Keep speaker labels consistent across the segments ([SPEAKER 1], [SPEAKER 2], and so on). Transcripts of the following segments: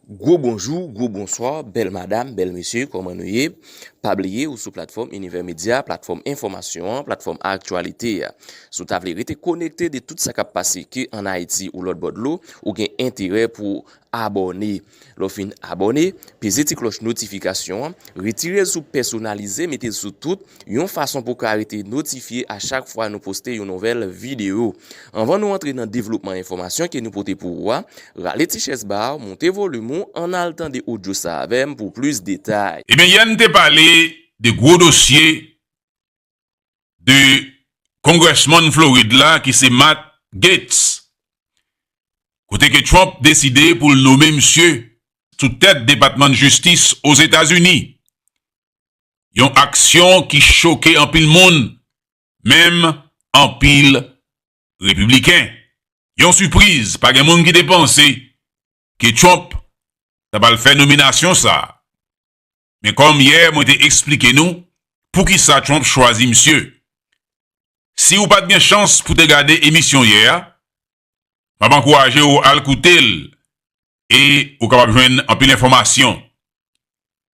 [SPEAKER 1] Gwo bonjou, gwo bonswa, bèl madam, bèl mesye, kòman nou ye? Pa bliye ou sou platfòm Univers Media, platfòm enfòmasyon an, platfòm aktyalite a. Si w ta vle rete konekte de tout sa k ap pase ke an Ayiti ou lòt bò dlo, ou gen enterè pou w abòne. Lè w fin abòne, peze ti klòch notifikasyon an, retire l sou pèsonalize mete l sou tout, yon fason pou w ka rete notifye a chak fwa nou poste yon nouvèl videyo. Anvan nou antre nan devlopman enfòmasyon ke nou pote pou ou a, rale ti chèz ba w, moute volim ou, ann al tande odyo sa avè m pou plis detay. Ebyen yè n te pale
[SPEAKER 2] de gwo dosye de Congressman Florid la ki se Matt Gaetz kote ke Trump deside pou l nome misye sou tèt Depatman Jistis Ozetazini, yon aksyon ki choke anpil moun menm anpil Repibliken. Yon sipriz, pa gen moun ki te panse ke Trump ta pral fè nominasyon sa a. Men kòm yè mwen te eksplike nou poukisa Trump chwazi misye. Si ou pa t gen chans pou te gade emisyon yè a, m ap ankouraje ou al koute l e ou kapab jwenn anpil enfòmasyon.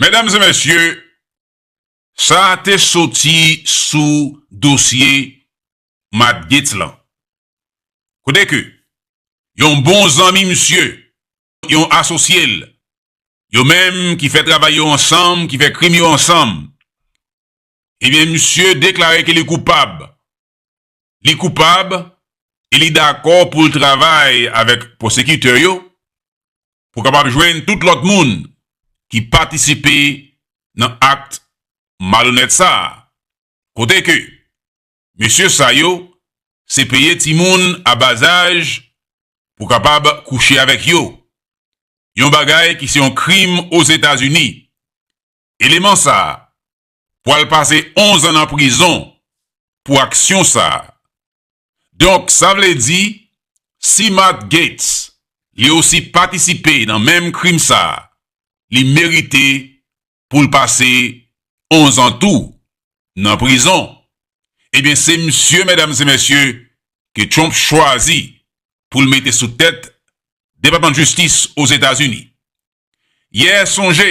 [SPEAKER 2] Medam e mesye, sa a te soti sou dosye Matt Gaetz lan. Kote ke yon bon zanmi misye, yon asosye l, yo menm ki fè travay yo ansanm, ki fè krim yo ansanm, ebyen misye deklare ke li koupab li koupab e li dakò pou l travay avèk pwosekitè yo pou kapab jwenn tout lòt moun ki patisipe nan akt malonèt sa a, kote ke mesye sa yo se peye timoun a bazaj pou kapab kouche avèk yo, yon bagay ki se yon krim Ozetazini. Eleman sa a pwal pase 11 an nan prizon pou aksyon sa. Donk sa vle di si Matt Gaetz li osi patisipe nan menm krim sa li merite poul pase 11 an tou nan prizon. Ebyen se misye medam se mesye ke Trump chwazi poul mete sou tèt depatman jistis Ozetazini. Yè sonje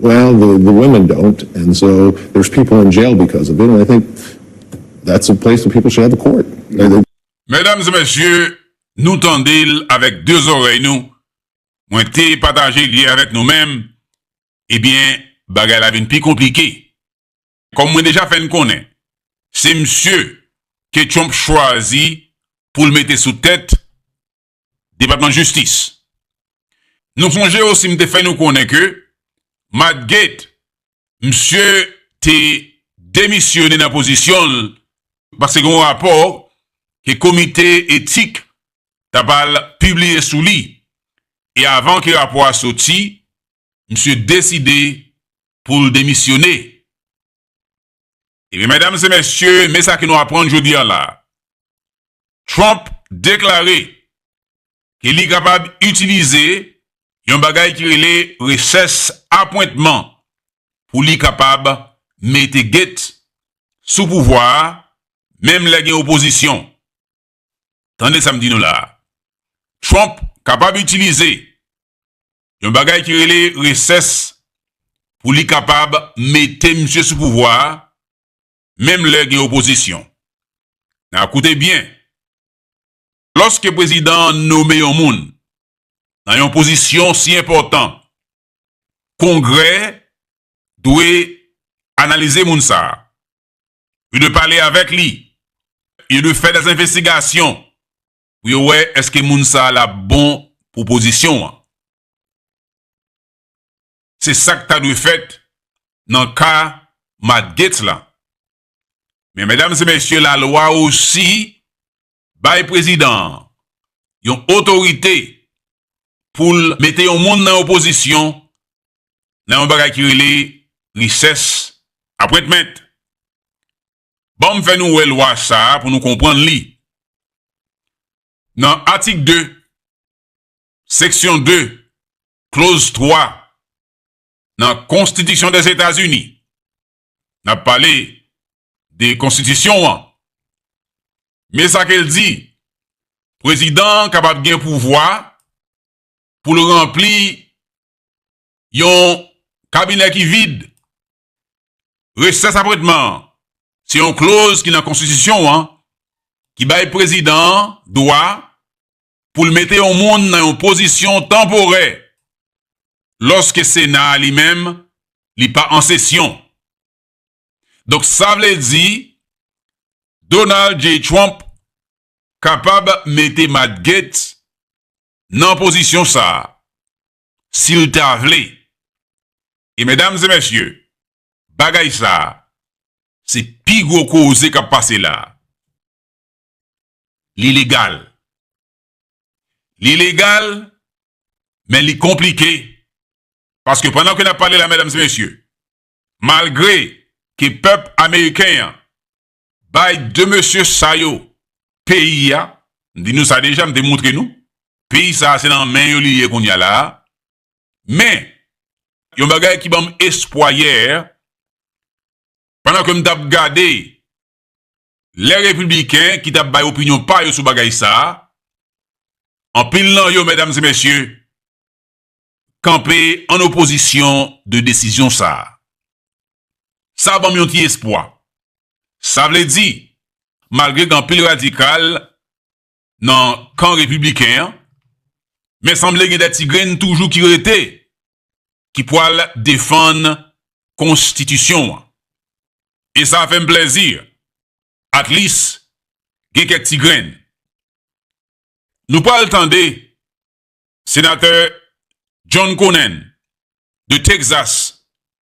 [SPEAKER 3] Well the
[SPEAKER 4] the women don't and so there's people in jail because of it and I think that's a place where people should have a court and they
[SPEAKER 2] Medam e mesye, nou tande l avèk 2 zòrèy nou, mwen te pataje li avèk nou men, ebyen bagay la vin pi konplike. Kòm mwen deja fè n konnen, se msye ke Trump chwazi pou l mete sou tèt Depatman Jistis. Nou sonje osi m te fè nou konnen ke Matt Gaetz, misye te demisyone nan pozisyon l paske gen yon rapò ke komite etik t ap al pibliye sou li e avan ke rapò a soti, misye deside pou l demisyone. Ebyen medam se mesye me sa ke nou aprann jodi an la. Trump deklare ke li kapab itilize yon bagay ki rele reches apwentman pou li kapab mete gate sou pouvwa a menm lè gen opozisyon. Tande sa m di nou la a. Trump kapab itilize yon bagay ki rele reces pou li kapab mete misye sou pouvwa a menm lè gen opozisyon. Na koute byen. Lòske prezidan an nome yon moun nan yon pozisyon si enpòtan, Kongrè dwe analize moun sa a. yo dwe pale avèk li, yo dwe fè dè envestigasyon pou yo wè èske moun sa a l ap bon pou pozisyon an. Se sa k ta dwe fèt nan ka Matt Gaetz la. Men medam e mesye lalwa osi Bay prezidan an yon otorite pou l mete yon moun nan yon pozisyon nan yon bagay ki rele Recess Appointment. Ban m fè nou wè lwa sa a pou nou konprann li. Nan atik 2, seksyon 2, kloz 3 nan Konstitisyon Dèzetazini, N ap pale de konstitisyon an. Men sa ke l di, Prezidan an kapab gen pouvwa pou l ranpli yon kabinè ki vid. Resès apwentman an, se yon kloz ki nan konstitisyon an ki bay prezidan an dwa pou l mete yon moun nan yon pozisyon tanporè lòske Sena a li menm li pa an sesyon. Donk sa vle di Donald J. Trump kapab mete Matt Gaetz nan pozisyon sa a si l ta vle. E medam e mesye, bagay sa a se pi gwo koze k ap pase la a. li legal. Li legal, men li konplike. Paske pandan ke n ap pale la medam e mesye, malgre ke pèp ameriken an bay 2 mesye sa yo peyi a, m di nou sa deja, m te montre nou, peyi sa a se nan men yo li ye kounya la a, men yon bagay ki banm espwa yè, pandan ke m t ap gade lè Repibliken ki t ap bay opinyon pa yo sou bagay sa a, anpil nan yo, medam e mesye, kanpe an opozisyon de desizyon sa a. Sa ban m yon ti espwa. Sa vle di, malgre gen anpil radikal nan kan repibliken an, men sanble gen de ti grenn toujou ki rete ki pwal defann konstitisyon an. E sa fè m plèzi, at lis gen kèk ti grenn. Nou pwal tande senatè John Conen de Texas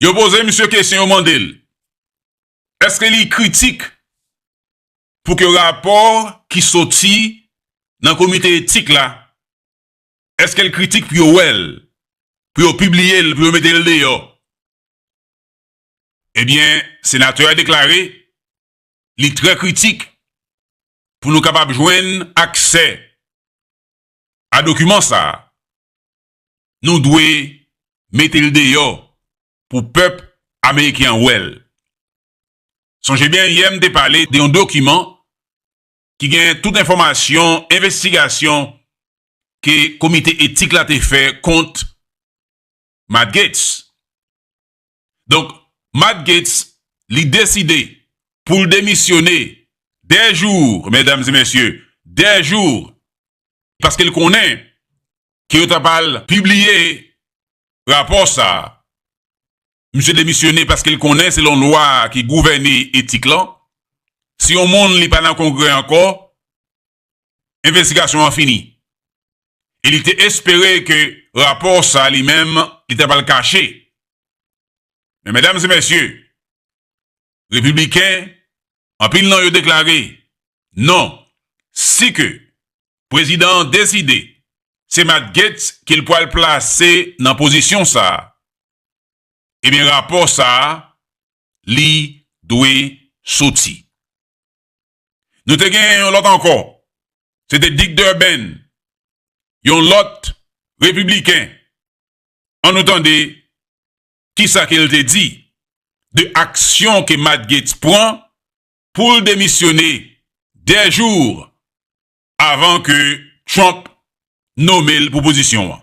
[SPEAKER 5] Yo
[SPEAKER 2] poze misye kesyon, yo mande l, eske li kritik pou ke rapò ki soti nan komite etik la, eske l kritik pou yo wè l, pou yo pibliye l, pou yo mete l deyò? Ebyen, senatè a deklare li trè kritik pou nou kapab jwenn aksè a dokiman sa a, nou dwe mete l deyò pou pèp ameriken an wè l. Sonje byen yè m te pale de yon dokiman ki gen tout enfòmasyon envestigasyon ke komite etik la te fè kont Matt Gaetz. Donk, Matt Gaetz, li deside pou l demisyone dè jou, medam e mesye, dè jou, paske l konnen ke yo ta pral pibliye rapò sa a. Misye demisyone paske l konnen selon lwa ki gouvène etik lan, si yon moun li pa nan Kongrè ankò, envestigasyon an fini e li te espere ke rapò sa li menm li ta pral kache. Men medam e mesye, Repibliken anpil nan yo deklare non si ke prezidan an deside se Matt Gaetz ke l pral plase nan pozisyon sa e byen rapò sa li dwe soti. Nou te genyen yon lòt ankò, se te Dick Durbin, yon lòt Repibliken. An nou tande ki sa ke l te di de aksyon ke Matt Gaetz pran pou l demisyone 2 jours avan ke Trump nome l pou pozisyon an.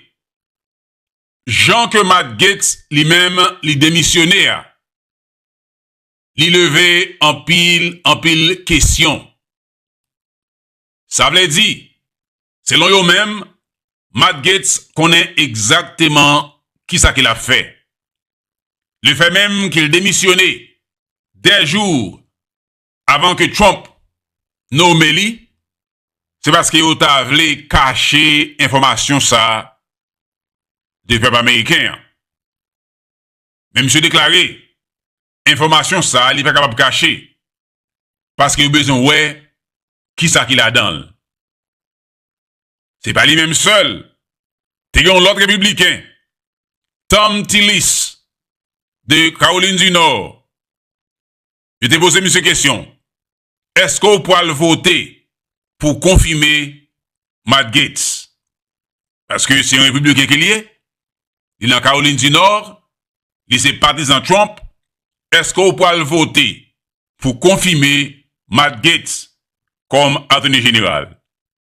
[SPEAKER 2] jan ke Matt Gaetz li menm li demisyone a, li leve anpil, anpil kesyon. Sa vle di, selon yo menm, Matt Gaetz konnen egzakteman kisa ke l ap fè. Le fè menm ke l demisyone, 2 jou avan ke Trump nome li, se paske yo ta vle kache enfòmasyon sa a de pèp ameriken an. Men misye deklare, enfòmasyon sa a li pa kapab kache, paske yo bezwen wè ki sa ki ladan l. Se pa li menm sèl, te gen yon lòt repibliken, Thom Tillis, de Kawolin di Nò, Yo te poze misye kesyon, Èske w pwal vote pou konfime Matt Gaetz? Paske se yon repibliken ke li ye, li nan Kawolin di Nò, li se patizan Trump, èske w pwal vote pou konfime Matt Gaetz kòm Atoni Jeneral?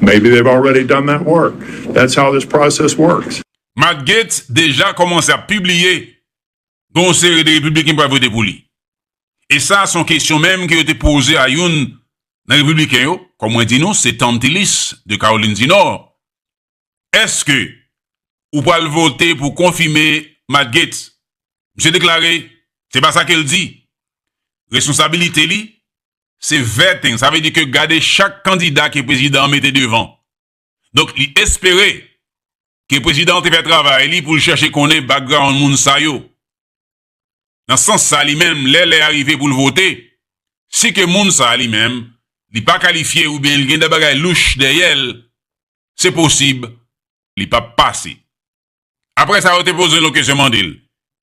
[SPEAKER 6] Maybe they've already done that work. That's how this process works. Matt Gaetz
[SPEAKER 2] deja kòmanse ap pibliye gen yon seri de Repibliken ki pral vote pou li. E sa se yon kesyon menm ke yo te poze a youn nan Repibliken yo, kòm mwen di nou se Thom Tillis de Kawolin di Nò, Èske ou pral vote pou konfime Matt Gaetz? Misye deklare se pa sa ke l di. Responsabilite li Se vetting, sa vle di ke gade chak kandida ke prezidan an mete devan. Donk li espere ke prezidan an te fè travay li pou l chèche konnen background moun sa yo. Nan sans sa li menm lè lè a rive pou l vote, si ke moun sa a li menm li pa kalifye oubyen li gen de bagay louch dèyè l, se posib li pap pase. Apre sa yo te poze l yon kesyon mande l,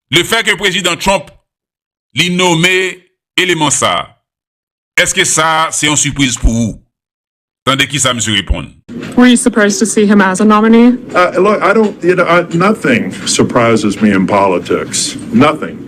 [SPEAKER 2] Le fè ke Prezidan Trump li nome eleman sa a, eske sa se yon sipriz pou ou? Tande kisa misye reponn. Were you surprised
[SPEAKER 7] to see him as a nominee? Look, I don't,
[SPEAKER 6] you know, nothing surprises me in politics. Nothing.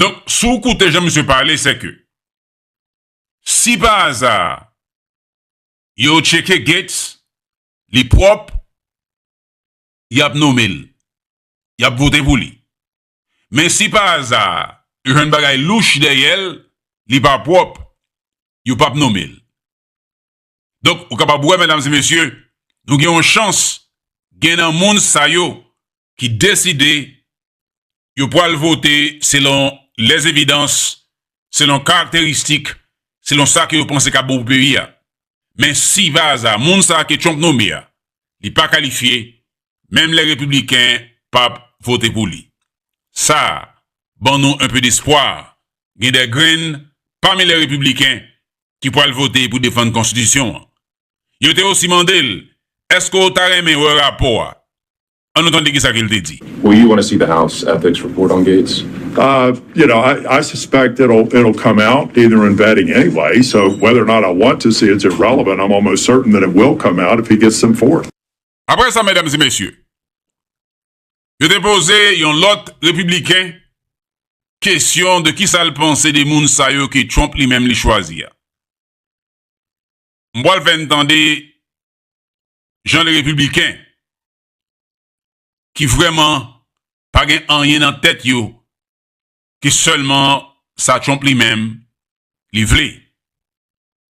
[SPEAKER 2] Donk, si w koute jan misye pale, se ke si pa aza yo tcheke Gates, li pwòp, y ap nome l, y ap vote pou li. Men si pa aza yo jwenn bagay louch dèyè l, li pa pwòp, yo pap nome l. Donk, ou kapab wè, medam e mesye, nou gen yon chans, gen nan moun sa yo ki deside yo pwal vote selon les evidances, selon karakteristik, selon sa ke yo panse kap bon pou peyi a. Men si pa aza moun sa ke Trump nome a, li pa kalifye, menm les republicains pap vote pou li. Sa ban nou un peu d'espoir, gen des graines pami les republicains ki pwal vote pou defann konstitisyon an. Yo te osi mande l, Eske w ta renmen wè rapò a?
[SPEAKER 8] An nou
[SPEAKER 2] tande
[SPEAKER 8] kisa
[SPEAKER 2] ke l
[SPEAKER 8] te di.
[SPEAKER 2] Will you
[SPEAKER 8] wanna
[SPEAKER 2] see the
[SPEAKER 8] House
[SPEAKER 2] ethics
[SPEAKER 8] report
[SPEAKER 2] on
[SPEAKER 8] Gaetz? You know,
[SPEAKER 6] I suspect it'll come out either in vetting anyway, so whether or not I want to see it's irrelevant, I'm almost certain that it will come out if he gets them forth. Aprè sa, medam
[SPEAKER 2] e mesye, Yo te poze yon lòt Repibliken kesyon de kisa l panse de moun sa yo ke Trump li menm li chwazi a. M pral fè n tande jan de Repibliken ki vrèman pa gen anyen nan tèt yo ke sèlman sa Trump li menm li vle.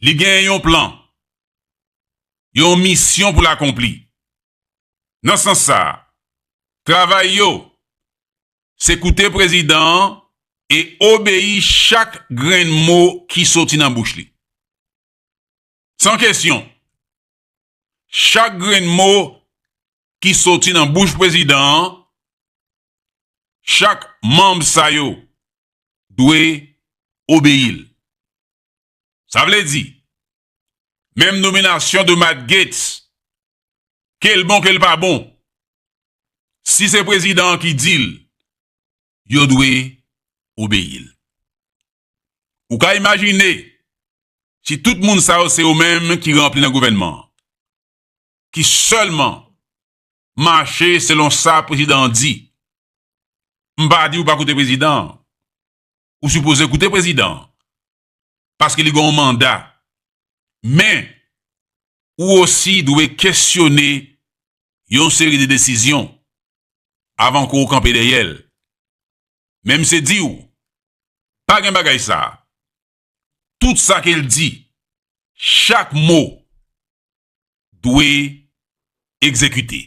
[SPEAKER 2] Li gen yon plan, yon misyon pou l akonpli. Nan sans sa a, travay yo se koute prezidan an e obeyi chak grenn mo ki soti nan bouch li. San kesyon, chak grenn mo ki soti nan bouch prezidan an, chak manm sa yo dwe obeyi l. Sa vle di, menm nominasyon de Matt Gaetz, ke l bon ke l pa bon, si se prezidan an ki di l, yo dwe obeyi l. Ou ka imajine, si tout moun sa yo se yo menm ki ranpli nan gouvènman an, ki sèlman mache selon sa prezidan an di, m pa di ou pa koute prezidan an, Ou sipoze koute prezidan an. Paske li gen yon manda. Men, ou osi dwe kesyone yon seri de desizyon avan ke w kanpe dèyè l. Men m se di w, pa gen bagay sa. Tout sa ke l di, chak mo dwe egzekite.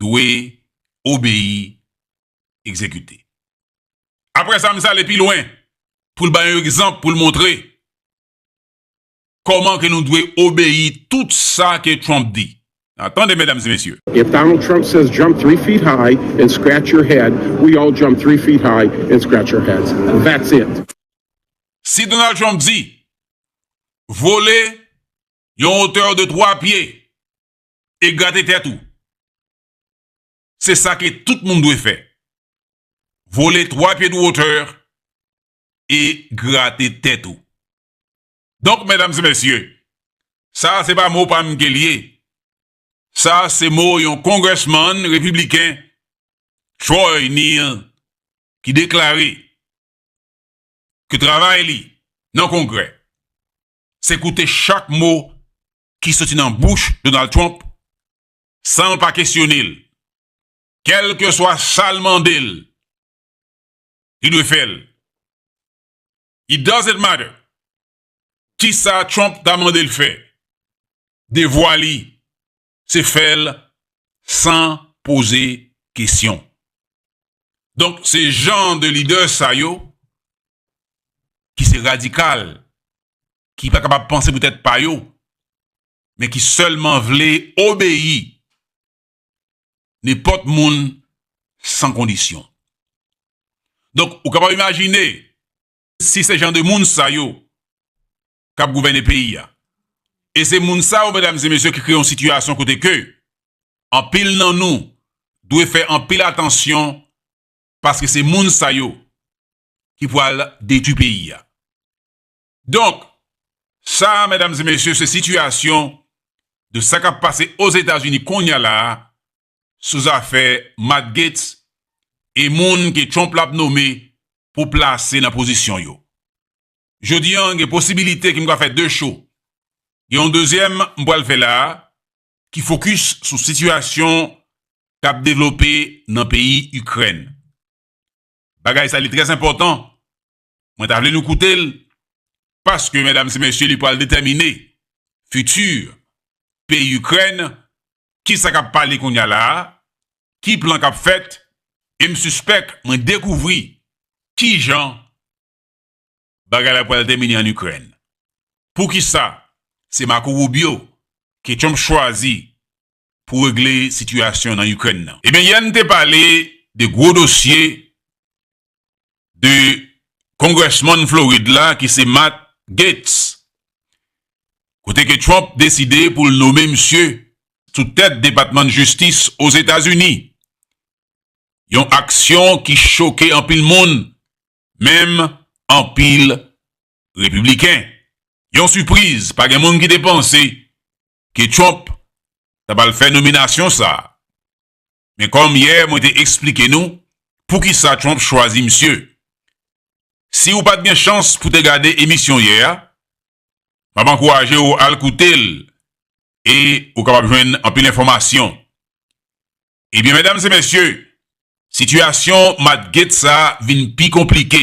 [SPEAKER 2] dwe obeyi egzekite. Apre sa, m sa ale pi lwen pou l bay yon egzanp pou l montre kòman ke nou dwe obeyi tout sa ke Trump di. Nan tande medam e mesye. If Donald Trump says
[SPEAKER 8] jump three feet high and scratch your head, we all jump three feet high and scratch our heads. That's it. Si
[SPEAKER 2] Donald Trump di vole yon hauteur de 3 pye e grate tèt ou. Se sa ke tout moun dwe fè. Vole 3 pye de hauteur e grate tèt ou. Donk medam e mesye, sa se pa mo pa m ke l ye. Sa se mo yon congressman repibliken Troy Neel ki deklare ke travay li nan kongrè se koute chak mo ki soti nan bouch Donald Trump san l pa kesyone l, kèlkeswa sa l mande l, li dwe fè l. It doesn't matter kisa Trump ta mande l fè, devwa li se fè l san poze kesyon. Donk se jan de lidè sa yo ki se radikal ki pa kapab panse pou tèt pa yo, men ki sèlman vle obeyi nenpòt moun san kondisyon. Donk, ou kapab imajine, si se jan de moun sa yo k ap gouvène peyi a, e se moun sa yo, medam e mesye, ki kreye yon sitiyasyon kote ke anpil nan nou dwe fè anpil atansyon paske se moun sa yo ki pwal detwi peyi a. Donk, sa a medam e mesye se sitiyasyon de sa kap pase Ozetazini konnya la a sou zafè Matt Gaetz e moun ke Trump lap nome pou plase nan pozisyon yo. Jodi an gen posibilite ke m ka fè 2 show. Gen yon dezyèm m pral fè la a ki fokis sou sitiyasyon kap devlope nan peyi Ikrèn. Bagay sa li trèzenpòtan Mwen ta vle nou koute l, paske medam se mesye li pral detèmine fiti peyi Ikrèn, ki sa k ap pale kounye a la a, ki plan k ap fèt, e m sispèk mwen dekouvri ki jan bagay la pral tèmine ann Ikrèn. Poukisa se Marco Rubio ke Trump chwazi pou regle sitiyasyon nan Ikrèn nan. Ebyen yè n te pale de gwo dosye de Congressman Florid la ki se Matt Gaetz kote ke Trump deside pou l nome misye sou tèt Depatman Jistis Ozetazini. Yon aksyon ki choke anpil moun, menm anpil Repibliken. Yon sipriz, pa gen moun ki te panse ke Trump ta pral fè nominasyon sa a. Men kòm yè mwen te eksplike nou poukisa Trump chwazi misye. Si ou pat gen chans pou te gade emisyon yè a, m ap ankouraje ou al koute l e ou kapab jwenn anpil enfòmasyon. Ebyen medam se mesye, sitiyasyon Matt Gaetz sa vin pi konplike.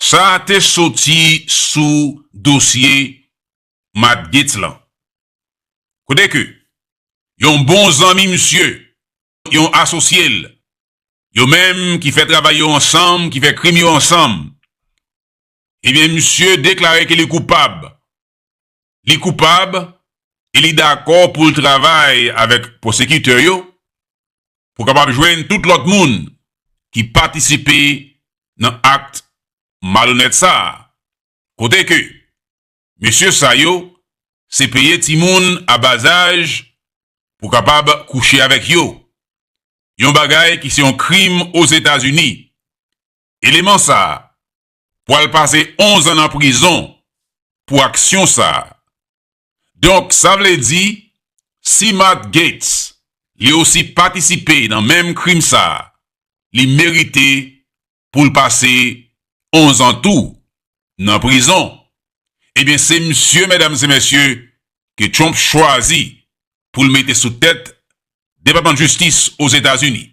[SPEAKER 2] Sa a te soti sou dosye Matt Gaetz lan, kote ke yon bon zanmi misye, yon asosye l, yo menm ki fè travay yo ansanm, ki fè krim yo ansanm, ebyen misye deklare ke li koupab li koupab e li dakò pou l travay avèk pwosekitè yo pou kapab jwenn tout lòt moun ki patisipe nan akt malonèt sa a, kote ke mesye sa yo se peye timoun a bazaj pou kapab kouche avèk yo, yon bagay ki se yon krim Ozetazini. Eleman sa a pwal pase 11 an nan prizon pou aksyon sa. Donk sa vle di si Matt Gaetz li osi patisipe nan menm krim sa li merite poul pase 11 an tou nan prizon. Ebyen se misye medam se mesye ke Trump chwazi poul mete sou tèt depatman jistis Ozetazini.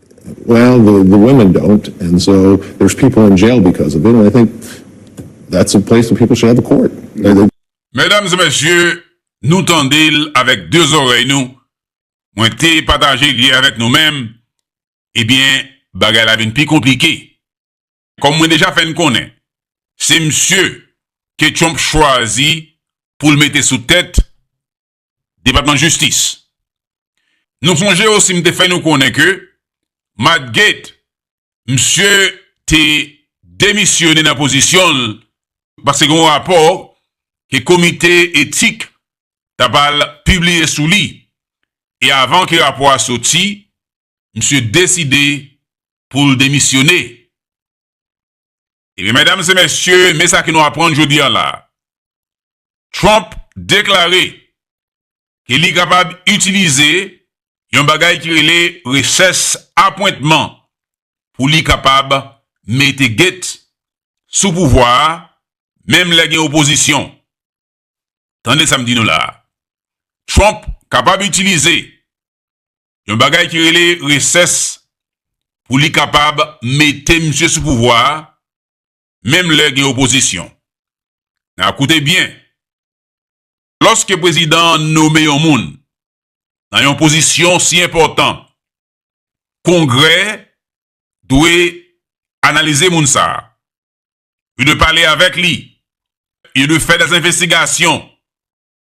[SPEAKER 9] Well the
[SPEAKER 4] the women don't and so there's people in jail because of it and I think that's a place where people should have a court. They they. Medam
[SPEAKER 2] e mesye, nou tande l avèk 2 zòrèy nou, mwen te pataje li avèk nou menm, ebyen bagay la vin pi konplike. Kòm mwen deja fè n konnen, se msye ke Trump chwazi pou l mete sou tèt Depatman Jistis. Nou sonje osi m te fè nou konnen ke Matt Gaetz, msye te demisyone nan pozisyon l paske gen yon rapò ke komite etik ta pral pibliye sou li e avan ke rapò a soti, msye deside pou l demisyone. Ebyen medam se mesye me sa ke nou aprann jodi an la. Trump deklare ke li kapab itilize yon bagay ki rele reches apwentman pou li kapab mete gate sou pouvwa a menm lè gen opozisyon. Tande sa m di nou la a. Trump kapab itilize yon bagay ki rele reces pou li kapab mete misye sou pouvwa a menm lè gen opozisyon. Nan koute byen. Lòske prezidan an nome yon moun nan yon pozisyon si enpòtan, Kongrè dwe analize moun sa a. yo dwe pale avèk li, yo dwe fè dè envestigasyon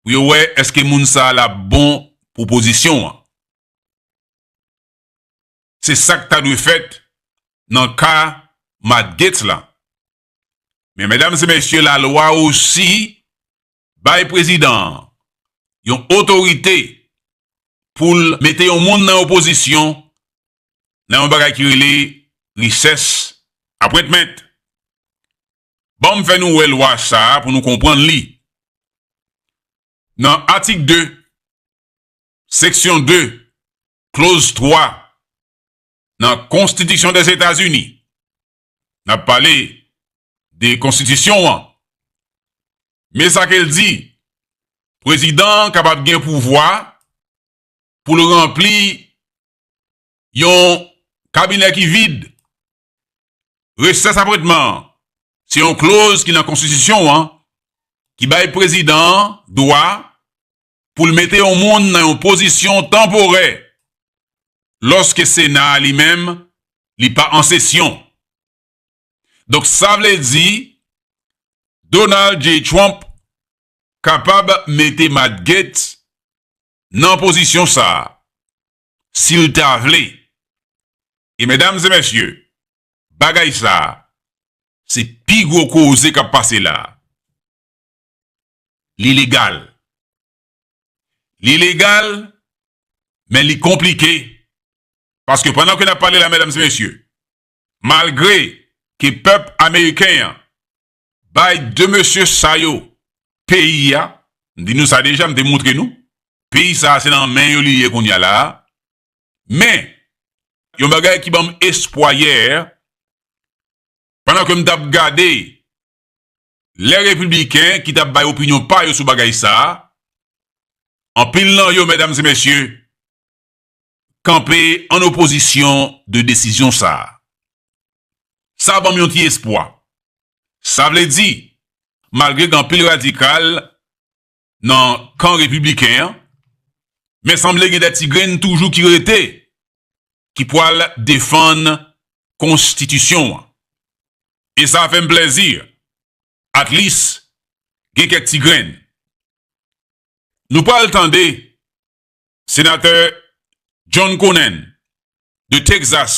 [SPEAKER 2] pou yo wè èske moun sa a l ap bon pou pozisyon an. Se sa k ta dwe fèt nan ka Matt Gaetz la. Men medam e mesye lalwa osi Bay prezidan an yon otorite pou l mete yon moun nan yon pozisyon nan yon bagay ki rele Recess Appointment. Ban m fè nou wè lwa sa a pou nou konprann li. Nan atik 2, seksyon 2, kloz 3 nan Konstitisyon Dèzetazini, N ap pale de konstitisyon an. Men sa ke l di, Prezidan an kapab gen pouvwa pou l ranpli yon kabinè ki vid. Resès apwentman an, se yon kloz ki nan konstitisyon an ki bay prezidan an dwa pou l mete yon moun nan yon pozisyon tanporè lòske Sena a li menm li pa an sesyon. Donk sa vle di Donald J. Trump kapab mete Matt Gaetz nan pozisyon sa a si l ta vle. E medam e mesye, bagay sa a se pi gwo koze k ap pase la a. li legal. Li legal, men li konplike. Paske pandan ke n ap pale la medam e mesye, malgre ke pèp ameriken an bay 2 mesye sa yo peyi a, m di nou sa deja, m te montre nou, peyi sa a se nan men yo li ye kounya la a, men yon bagay ki banm espwa yè, pandan ke m t ap gade lè Repibliken ki t ap bay opinyon pa yo sou bagay sa a, anpil nan yo, medam e mesye, kanpe an opozisyon de desizyon sa a. Sa ban m yon ti espwa. Sa vle di, malgre gen anpil radikal nan kan repibliken an, men sanble gen de ti grenn toujou ki rete ki pwal defann konstitisyon an. E sa fè m plèzi, at least gen kèk ti grenn. Nou pwal tande senatè John Conen de Texas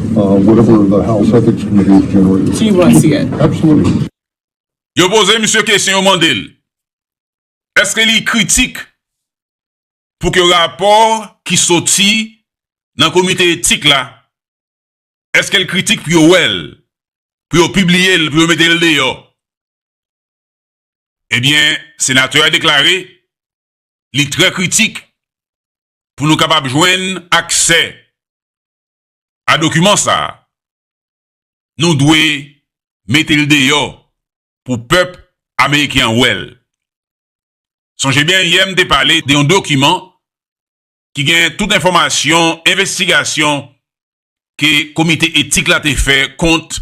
[SPEAKER 5] Yo
[SPEAKER 2] poze misye kesyon, yo mande l, eske li kritik pou ke rapò ki soti nan komite etik la, eske l kritik pou yo wè l, pou yo pibliye l, pou yo mete l deyò? Ebyen, senatè a deklare li trè kritik pou nou kapab jwenn aksè a dokiman sa a, nou dwe mete l deyò pou pèp ameriken an wè l. Sonje byen yè m te pale de yon dokiman ki gen tout enfòmasyon envestigasyon ke komite etik la te fè kont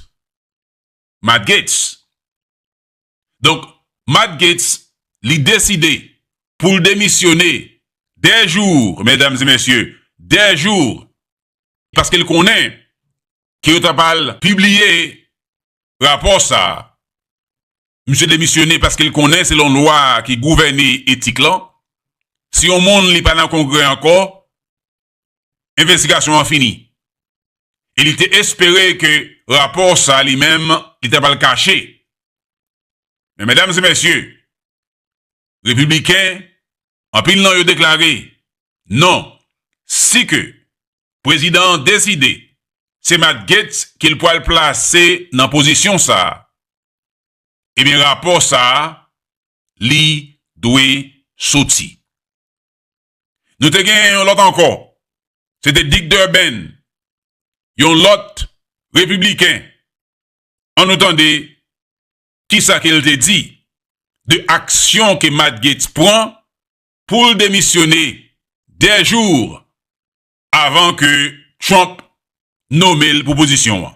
[SPEAKER 2] Matt Gaetz. Donk, Matt Gaetz, li deside pou l demisyone dè jou, medam e mesye, dè jou, paske l konnen ke yo ta pral pibliye rapò sa a. Misye demisyone paske l konnen selon lwa ki gouvène etik lan, si yon moun li pa nan Kongrè ankò, envestigasyon an fini e li te espere ke rapò sa li menm li ta pral kache. Men medam e mesye, Repibliken anpil nan yo deklare non, si ke prezidan an deside se Matt Gaetz ke l pral plase nan pozisyon sa, ebyen rapò sa li dwe soti. Nou te genyen yon lòt ankò, se te Dick Durbin, yon lòt Repibliken. An nou tande ki sa ke l te di de aksyon ke Matt Gaetz pran pou l demisyone de jours avan ke Trump nome l pou pozisyon an.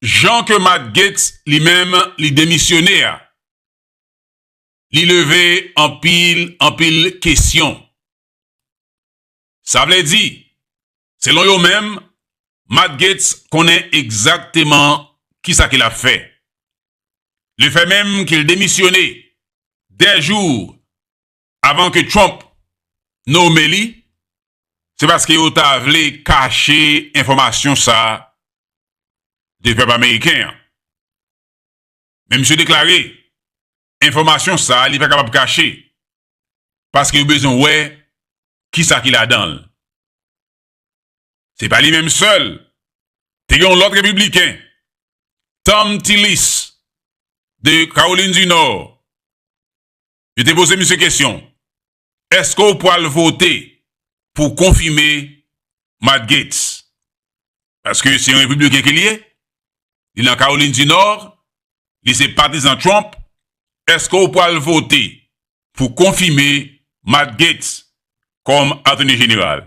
[SPEAKER 2] jan ke Matt Gaetz li menm li demisyone a, li leve anpil, anpil kesyon. Sa vle di, selon yo menm, Matt Gaetz konnen egzakteman kisa ke l ap fè. Le fè menm ke l demisyone 2 jou Avan ke Trump nome li, se paske yo ta vle kache enfòmasyon sa de pèp ameriken an. Men misye deklare, enfòmasyon sa li pa kapab kache, paske yo bezwen wè kisa ki ladan l. Se pa li menm sèl, te gen yon lòt repibliken, Thom Tillis de Kawolin di Nò, Yo te poze misye kesyon, Èske w pwal vote pou konfime Matt Gaetz? Paske se yon Repibliken ke li ye, li nan Kawolin di Nò, li se patizan Trump, èske w pwal vote pou konfime Matt Gaetz kòm Atoni Jeneral?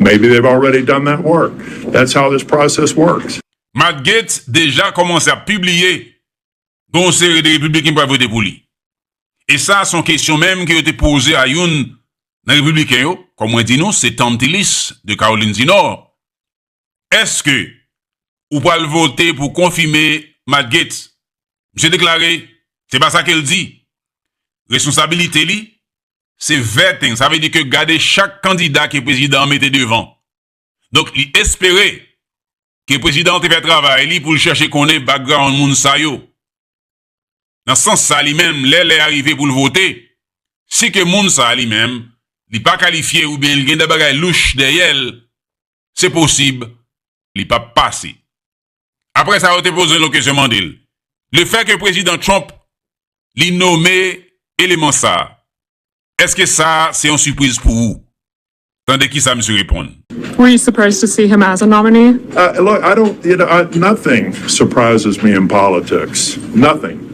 [SPEAKER 6] Maybe they've already done that work. That's how this process works. Matt Gaetz
[SPEAKER 2] deja kòmanse ap pibliye gen yon seri de Repibliken ki pral vote pou li. E sa se yon kesyon menm ke yo te poze a youn nan Repibliken yo, kòm mwen di nou se Thom Tillis de Kawolin di Nò, Eske ou pral vote pou konfime Matt Gaetz? Misye deklare se pa sa ke l di. Responsabilite li Se vetting, sa vle di ke gade chak kandida ke prezidan an mete devan. Donk li espere ke prezidan an te fè travay li pou l chèche konnen background moun sa yo. Nan sans sa li menm lè lè a rive pou l vote, si ke moun sa a li menm li pa kalifye oubyen li gen de bagay louch dèyè l, se posib li pap pase. Apre sa yo te poze l kesyon mande l, le fè ke Prezidan Trump li nome eleman sa, eske sa se yon sipriz pou ou? Tande kisa misye reponn. Were you surprised to
[SPEAKER 7] see him as a nominee? Look, I don't,
[SPEAKER 6] you know, nothing surprises me in politics. Nothing.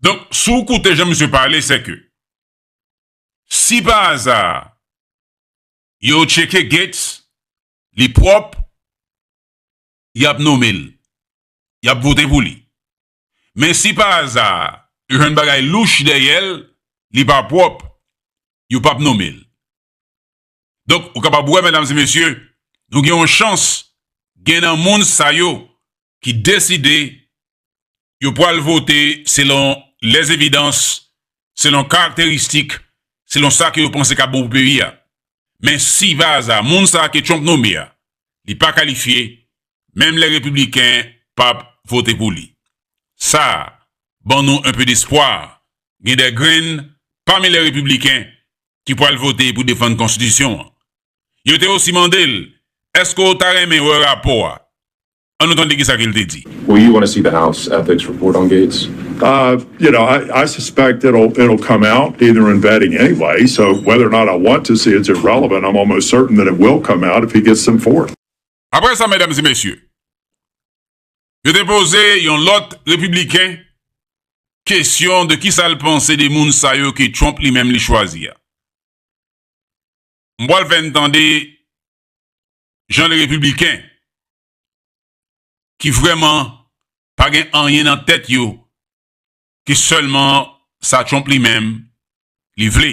[SPEAKER 2] Donk, si w koute jan misye pale, se ke si pa aza yo tcheke Gates, li pwòp, y ap nome l, y ap vote pou li. Men si pa aza yo jwenn bagay louch dèyè l, li pa pwòp, yo pap nome l. Donk, ou kapab wè, medam e mesye, nou gen yon chans, gen nan moun sa yo ki deside yo pwal vote selon lè evidans, selon karakteristik, selon sa ke yo panse kap bon pou peyi a. Men si pa aza moun sa ke Trump nome a, li pa kalifye, menm lè repibliken pap vote pou li. Sa ban nou enpe despwa, gen de grenn pami lè repibliken ki pwal vote pou defann konstitisyon an. Yo te osi mande l, Eske w ta renmen wè rapò a? An nou tande kisa ke l te di. Will you wanna see the House
[SPEAKER 10] ethics report on Gaetz? You know,
[SPEAKER 6] I suspect it'll come out either in vetting anyway, so whether or not I want to see it's irrelevant, I'm almost certain that it will come out if he gets them forth. Aprè
[SPEAKER 2] sa, medam e mesye, Yo te poze yon lòt Repibliken kesyon de kisa l panse de moun sa yo ke Trump li menm li chwazi a. M pral fè n tande jan de Repibliken ki vrèman pa gen anyen nan tèt yo ke sèlman sa Trump li menm li vle.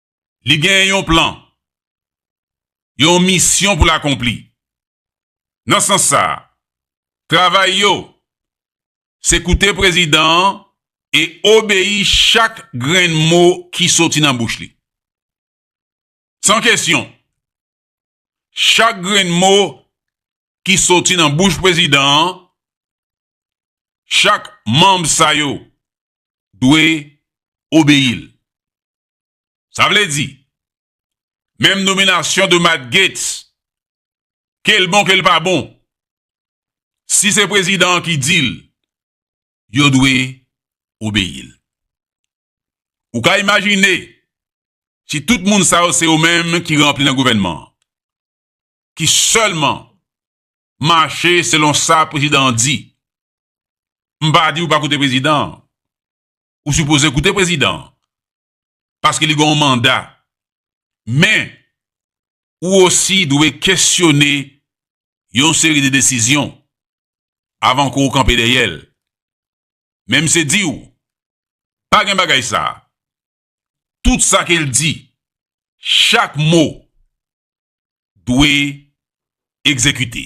[SPEAKER 2] Li gen yon plan, yon misyon pou l akonpli. Nan sans sa a, travay yo se koute prezidan an e obeyi chak grenn mo ki soti nan bouch li. San kesyon, chak grenn mo ki soti nan bouch prezidan an, chak manm sa yo dwe obeyi l. Sa vle di, menm nominasyon de Matt Gaetz, ke l bon ke l pa bon, si se prezidan an ki di l, yo dwe obeyi l. Ou ka imajine, si tout moun sa yo se yo menm ki ranpli nan gouvènman an, ki sèlman mache selon sa prezidan an di, m pa di ou pa koute prezidan an, Ou sipoze koute prezidan an. Paske li gen yon manda. Men, ou osi dwe kesyone yon seri de desizyon avan ke ou kanpe dèyè l. Men misye di ou, pa gen bagay sa. Tout sa ke l di, chak mo dwe egzekite.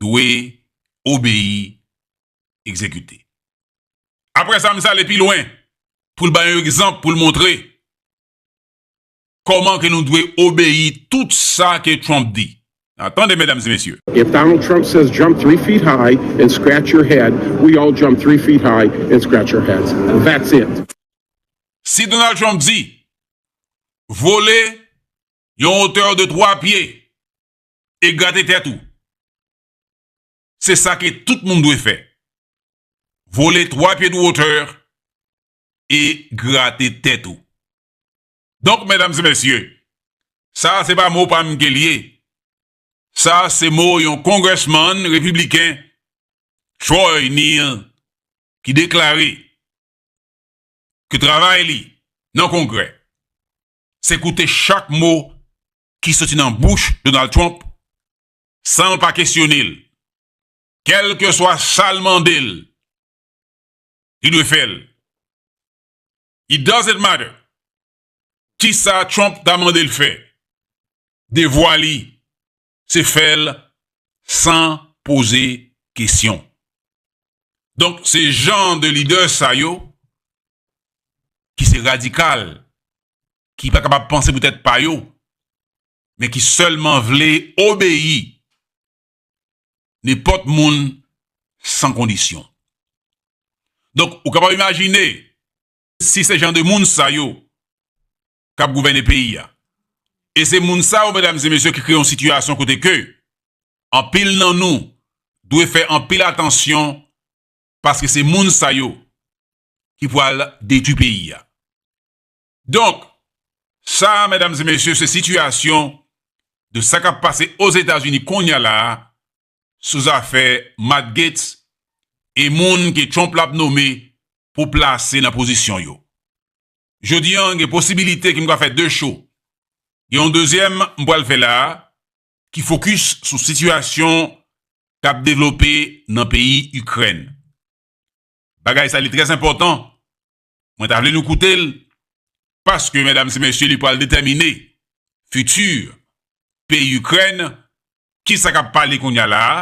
[SPEAKER 2] dwe obeyi egzekite. Apre sa, m sa ale pi lwen pou l bay yon egzanp pou l montre kòman ke nou dwe obeyi tout sa ke Trump di. Nan tande medam e mesye. If Donald Trump says
[SPEAKER 8] jump three feet high and scratch your head, we all jump three feet high and scratch our heads. That's it. Si
[SPEAKER 2] Donald Trump di vole yon hauteur de 3 pye e grate tèt ou. Se sa ke tout moun dwe fè. Vole 3 pye dou otè e grate tèt ou. Donk medam e mesye, sa se pa mo pa m ke l ye. Sa se mo yon congressman repibliken Troy Neel ki deklare ke travay li nan kongrè se koute chak mo ki soti nan bouch Donald Trump san l pa kesyone l, kèlkeswa sa l mande l, li dwe fè l. It doesn't matter kisa Trump ta mande l fè, devwa li se fè l san poze kesyon. Donk se jan de lidè sa yo ki se radikal ki pa kapab panse pou tèt pa yo, men ki sèlman vle obeyi nenpòt moun san kondisyon. Donk, ou kapab imajine, si se jan de moun sa yo k ap gouvène peyi a. E se moun sa yo, medam e mesye, ki kreye yon sitiyasyon kote ke anpil nan nou dwe fè anpil atansyon paske se moun sa yo ki pwal detwi peyi a. Donk, sa a medam e mesye se sitiyasyon de sa kap pase Ozetazini kounya la a sou zafè Matt Gaetz e moun ke Trump lap nome pou plase nan pozisyon yo. Jodi an gen posibilite ke m ka fè 2 show. Gen yon dezyèm m pral fè la a ki fokis sou sitiyasyon kap devlope nan peyi Ikrèn. Bagay sa li trè enpòtan Mwen ta vle nou koute l, paske medam se mesye li pral detèmine fiti peyi Ikrèn, ki sa k ap pale kounye a la a,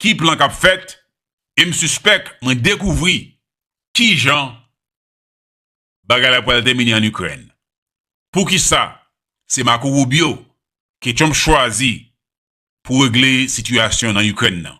[SPEAKER 2] ki plan k ap fèt, e m sispèk mwen dekouvri ki jan bagay la pral tèmine ann Ikrèn. Pou ki sa se Marco Rubio ke Trump chwazi pou regle sitiyasyon nan Ikrèn nan?